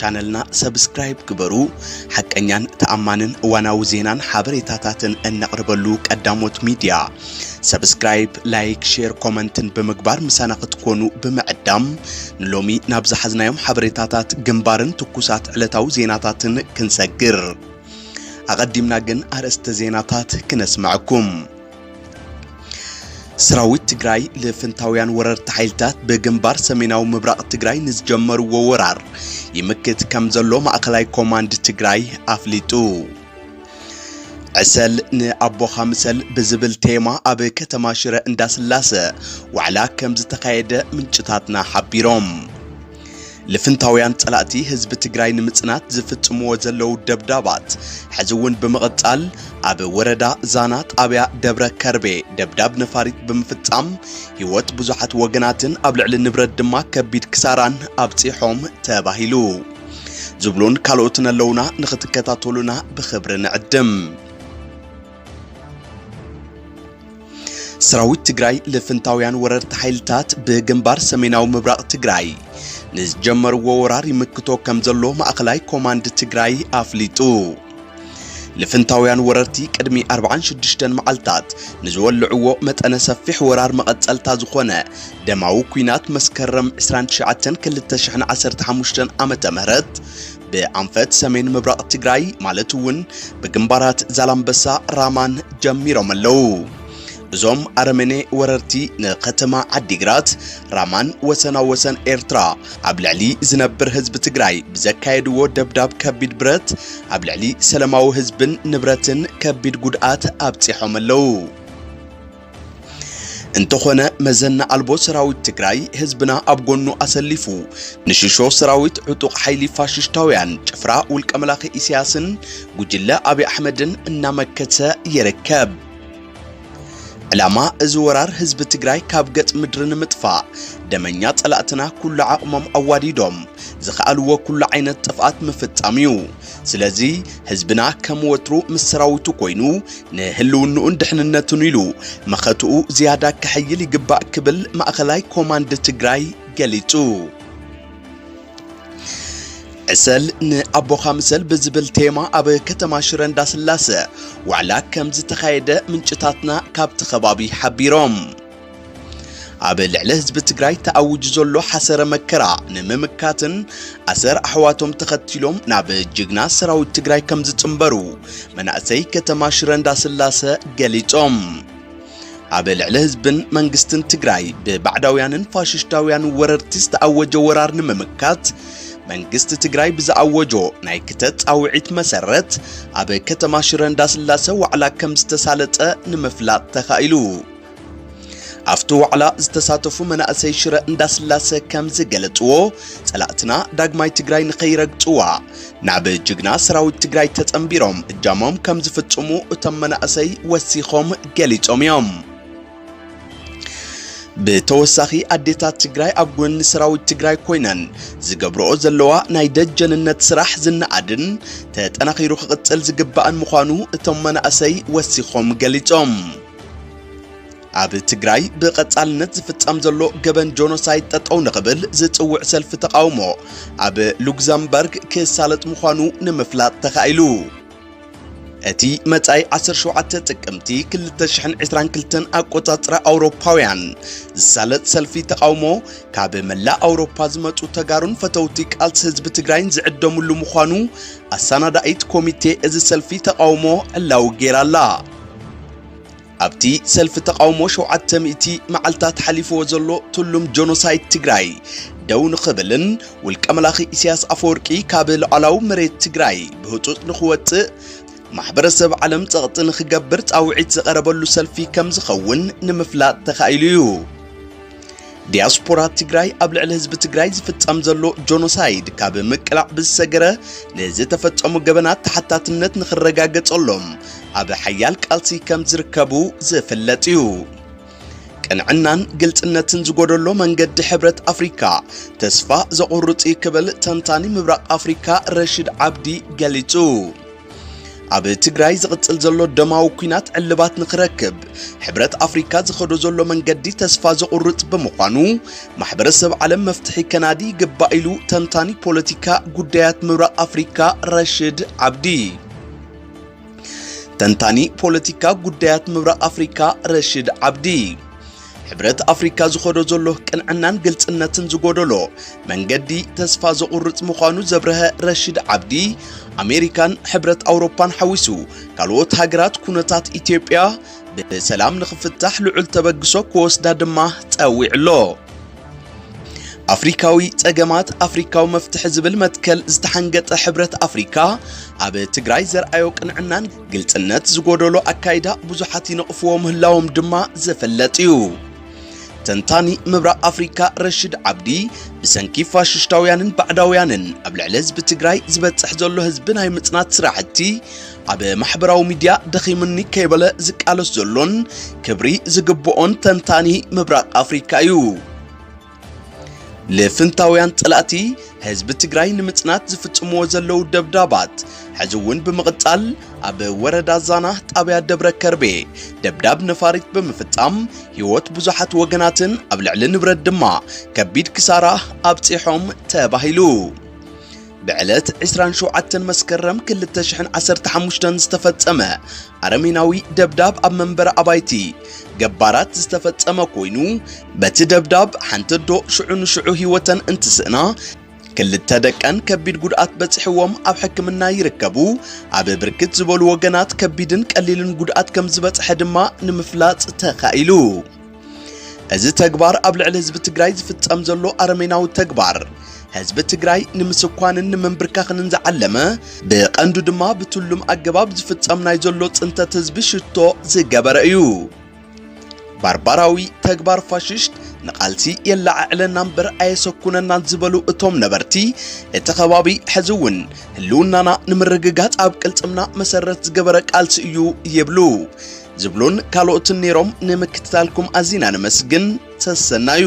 ቻነልና ሰብስክራይብ ግበሩ። ሓቀኛን ተኣማንን እዋናዊ ዜናን ሓበሬታታትን እነቕርበሉ ቀዳሞት ሚድያ። ሰብስክራይብ፣ ላይክ፣ ሼር፣ ኮመንትን ብምግባር ምሳና ክትኮኑ ብምዕዳም ንሎሚ ናብ ዝሓዝናዮም ሓበሬታታት ግንባርን ትኩሳት ዕለታዊ ዜናታትን ክንሰግር ኣቐዲምና ግን ኣርእስተ ዜናታት ክነስመዐኩም። ሰራዊት ትግራይ ልፍንታውያን ወረርቲ ሓይልታት ብግንባር ሰሜናዊ ምብራቕ ትግራይ ንዝጀመርዎ ወራር ይምክት ከም ዘሎ ማእኸላይ ኮማንድ ትግራይ ኣፍሊጡ። ዕሰል ንኣቦኻ ምሰል ብዝብል ቴማ ኣብ ከተማ ሽረ እንዳስላሰ ዋዕላ ከም ዝተኻየደ ምንጭታትና ሓቢሮም። ልፍንታውያን ጸላእቲ ህዝቢ ትግራይ ንምጽናት ዝፍጽምዎ ዘለዉ ደብዳባት ሕዚ እውን ብምቕጻል ኣብ ወረዳ ዛና ጣብያ ደብረ ከርቤ ደብዳብ ነፋሪት ብምፍጻም ህይወት ብዙሓት ወገናትን ኣብ ልዕሊ ንብረት ድማ ከቢድ ክሳራን ኣብጺሖም ተባሂሉ ዝብሉን ካልኦትን ኣለውና ንኽትከታተሉና ብኽብሪ ንዕድም። ሰራዊት ትግራይ ልፍንታውያን ወረርቲ ሓይልታት ብግንባር ሰሜናዊ ምብራቕ ትግራይ ንዝጀመርዎ ወራር ይምክቶ ከም ዘሎ ማእኸላይ ኮማንድ ትግራይ ኣፍሊጡ። ልፍንታውያን ወረርቲ ቅድሚ 46 መዓልታት ንዝወልዕዎ መጠነ ሰፊሕ ወራር መቐጸልታ ዝኾነ ደማዊ ኩናት መስከረም 29 2015 ዓ ም ብኣንፈት ሰሜን ምብራቕ ትግራይ ማለት እውን ብግንባራት ዛላምበሳ ራማን ጀሚሮም ኣለዉ። እዞም ኣረመኔ ወረርቲ ንከተማ ዓዲግራት ራማን ወሰና ወሰን ኤርትራ ኣብ ልዕሊ ዝነብር ህዝቢ ትግራይ ብዘካየድዎ ደብዳብ ከቢድ ብረት ኣብ ልዕሊ ሰለማዊ ህዝብን ንብረትን ከቢድ ጉድኣት ኣብፂሖም ኣለዉ። እንተኾነ መዘና ኣልቦ ሰራዊት ትግራይ ህዝብና ኣብ ጎኑ ኣሰሊፉ ንሽሾ ሰራዊት ዕጡቕ ሓይሊ ፋሽሽታውያን ጭፍራ ውልቀ መላኺ ኢሳያስን ጉጅለ ኣብይ ኣሕመድን እናመከተ ይርከብ። ዕላማ እዚ ወራር ህዝቢ ትግራይ ካብ ገጽ ምድሪ ንምጥፋእ ደመኛ ጸላእትና ኩሉ ዓቕሞም ኣዋዲዶም ዝኸኣልዎ ኩሉ ዓይነት ጥፍኣት ምፍጻም እዩ። ስለዚ ህዝብና ከም ወትሩ ምስ ሰራዊቱ ኮይኑ ንህልውንኡን ድሕንነቱን ኢሉ መኸትኡ ዝያዳ ከሐይል ይግባእ ክብል ማእኸላይ ኮማንድ ትግራይ ገሊጹ። ዕሰል ንኣቦኻ ምሰል ብዝብል ቴማ ኣብ ከተማ ሽረ እንዳስላሰ ዋዕላ ከም ዝተኻየደ ምንጭታትና ካብቲ ከባቢ ሓቢሮም። ኣብ ልዕሊ ህዝቢ ትግራይ ተኣውጅ ዘሎ ሓሰረ መከራ ንምምካትን ኣሰር ኣሕዋቶም ተኸቲሎም ናብ ጅግና ሰራዊት ትግራይ ከም ዝጽምበሩ መናእሰይ ከተማ ሽረ እንዳስላሰ ገሊጾም። ኣብ ልዕሊ ህዝብን መንግስትን ትግራይ ብባዕዳውያንን ፋሽሽታውያን ወረርቲ ዝተኣወጀ ወራር ንምምካት መንግስቲ ትግራይ ብዝኣወጆ ናይ ክተት ጻውዒት መሰረት ኣብ ከተማ ሽረ እንዳስላሰ ዋዕላ ከም ዝተሳለጠ ንምፍላጥ ተኻኢሉ። ኣብቲ ዋዕላ ዝተሳተፉ መናእሰይ ሽረ እንዳስላሰ ከም ዝገለፅዎ ፀላእትና ዳግማይ ትግራይ ንኸይረግፅዋ ናብ ጅግና ሰራዊት ትግራይ ተፀንቢሮም እጃሞም ከም ዝፍፅሙ እቶም መናእሰይ ወሲኾም ገሊፆም እዮም። ብተወሳኺ ኣዴታት ትግራይ ኣብ ጎኒ ሰራዊት ትግራይ ኮይነን ዝገብረኦ ዘለዋ ናይ ደጀንነት ስራሕ ዝነኣድን ተጠናኺሩ ክቕፅል ዝግባእን ምዃኑ እቶም መናእሰይ ወሲኾም ገሊፆም። ኣብ ትግራይ ብቐጻልነት ዝፍጸም ዘሎ ገበን ጆኖሳይድ ጠጠው ንኽብል ዝጽውዕ ሰልፊ ተቓውሞ ኣብ ሉክዘምበርግ ክሳለጥ ምዃኑ ንምፍላጥ ተኻኢሉ። እቲ መጻኢ 17 ጥቅምቲ 2022 ኣቆጻጽራ ኣውሮፓውያን ዝሳለጥ ሰልፊ ተቓውሞ ካብ መላእ ኣውሮፓ ዝመጹ ተጋሩን ፈተውቲ ቃልሲ ህዝቢ ትግራይን ዝዕደምሉ ምዃኑ ኣሰናዳኢት ኮሚቴ እዚ ሰልፊ ተቓውሞ ዕላዊ ገይራ'ላ። ኣብቲ ሰልፊ ተቓውሞ ሸውዓተ ሚእቲ መዓልታት ሓሊፍዎ ዘሎ ትሉም ጆኖሳይድ ትግራይ ደው ንኽብልን ውልቀ መላኺ ኢሳያስ ኣፈወርቂ ካብ ሉዓላዊ መሬት ትግራይ ብህፁፅ ንኽወፅእ ማሕበረሰብ ዓለም ጸቕጢ ንኽገብር ጻውዒት ዝቐረበሉ ሰልፊ ከም ዝኸውን ንምፍላጥ ተኻኢሉ እዩ። ዲያስፖራ ትግራይ ኣብ ልዕሊ ህዝቢ ትግራይ ዝፍጸም ዘሎ ጆኖሳይድ ካብ ምቅላዕ ብዝሰገረ ንዝተፈጸሙ ገበናት ተሓታትነት ንኽረጋገጸሎም ኣብ ሓያል ቃልሲ ከም ዝርከቡ ዝፍለጥ እዩ። ቅንዕናን ግልጽነትን ዝጎደሎ መንገዲ ሕብረት ኣፍሪካ ተስፋ ዘቑርጽ እዩ ክብል ተንታኒ ምብራቕ ኣፍሪካ ረሽድ ዓብዲ ገሊጹ። ኣብ ትግራይ ዝቕጽል ዘሎ ደማዊ ኩናት ዕልባት ንክረክብ ሕብረት ኣፍሪካ ዝኸዶ ዘሎ መንገዲ ተስፋ ዘቑርጽ ብምዃኑ ማሕበረሰብ ዓለም መፍትሒ ከናዲ ይግባእ ኢሉ ተንታኒ ፖለቲካ ጉዳያት ምብራቕ ኣፍሪካ ረሽድ ዓብዲ ተንታኒ ፖለቲካ ጉዳያት ምብራቕ ኣፍሪካ ረሽድ ዓብዲ ሕብረት ኣፍሪካ ዝኸዶ ዘሎ ቅንዕናን ግልፅነትን ዝጎደሎ መንገዲ ተስፋ ዘቑርፅ ምዃኑ ዘብረሀ ረሽድ ዓብዲ ኣሜሪካን ሕብረት ኣውሮፓን ሓዊሱ ካልኦት ሃገራት ኩነታት ኢትዮጵያ ብሰላም ንኽፍታሕ ልዑል ተበግሶ ክወስዳ ድማ ፀዊዑ ኣሎ። ኣፍሪካዊ ጸገማት ኣፍሪካዊ መፍትሒ ዝብል መትከል ዝተሓንገጠ ሕብረት ኣፍሪካ ኣብ ትግራይ ዘርኣዮ ቅንዕናን ግልጽነት ዝጎደሎ ኣካይዳ ብዙሓት ይነቕፍዎ ምህላዎም ድማ ዝፍለጥ እዩ። ተንታኒ ምብራቕ ኣፍሪካ ረሽድ ዓብዲ ብሰንኪ ፋሽሽታውያንን ባዕዳውያንን ኣብ ልዕሊ ህዝቢ ትግራይ ዝበፅሕ ዘሎ ህዝቢ ናይ ምፅናት ስራሕቲ ኣብ ማሕበራዊ ሚድያ ደኺምኒ ከይበለ ዝቃለስ ዘሎን ክብሪ ዝግብኦን ተንታኒ ምብራቕ ኣፍሪካ እዩ። ልፍንታውያን ጸላእቲ ህዝቢ ትግራይ ንምጽናት ዝፍጽምዎ ዘለዉ ደብዳባት ሕዚ እውን ብምቕጻል ኣብ ወረዳ ዛና ጣብያ ደብረ ከርቤ ደብዳብ ነፋሪት ብምፍጻም ህይወት ብዙሓት ወገናትን ኣብ ልዕሊ ንብረት ድማ ከቢድ ክሳራ ኣብጺሖም ተባሂሉ ብዕለት ዕስራን ሸውዓተን መስከረም ክልተ ሽሕን ዓሰርተ ሓሙሽተን ዝተፈጸመ ኣረሜናዊ ደብዳብ ኣብ መንበሪ ኣባይቲ ገባራት ዝተፈጸመ ኮይኑ በቲ ደብዳብ ሓንቲ ኣዶ ሽዑ ንሽዑ ህይወተን እንትስእና ክልተ ደቀን ከቢድ ጉድኣት በጽሕዎም ኣብ ሕክምና ይርከቡ። ኣብ ብርክት ዝበሉ ወገናት ከቢድን ቀሊልን ጉድኣት ከም ዝበጽሐ ድማ ንምፍላጥ ተኻኢሉ። እዚ ተግባር ኣብ ልዕሊ ህዝቢ ትግራይ ዝፍጸም ዘሎ ኣረሜናዊ ተግባር ህዝቢ ትግራይ ንምስኳንን ንምንብርካኽንን ዝዓለመ ብቐንዱ ድማ ብትሉም ኣገባብ ዝፍጸም ናይ ዘሎ ጽንተት ህዝቢ ሽቶ ዝገበረ እዩ። ባርባራዊ ተግባር ፋሽስት ንቓልሲ የለዓዕለና እምበር ኣየሰኩነናን ዝበሉ እቶም ነበርቲ እቲ ከባቢ ሕዚ እውን ህልውናና ንምርግጋጽ ኣብ ቅልጽምና መሰረት ዝገበረ ቃልሲ እዩ ይብሉ። ዝብሉን ካልኦትን ነይሮም ንምክትታልኩም ኣዚና ነመስግን ሰሰናዩ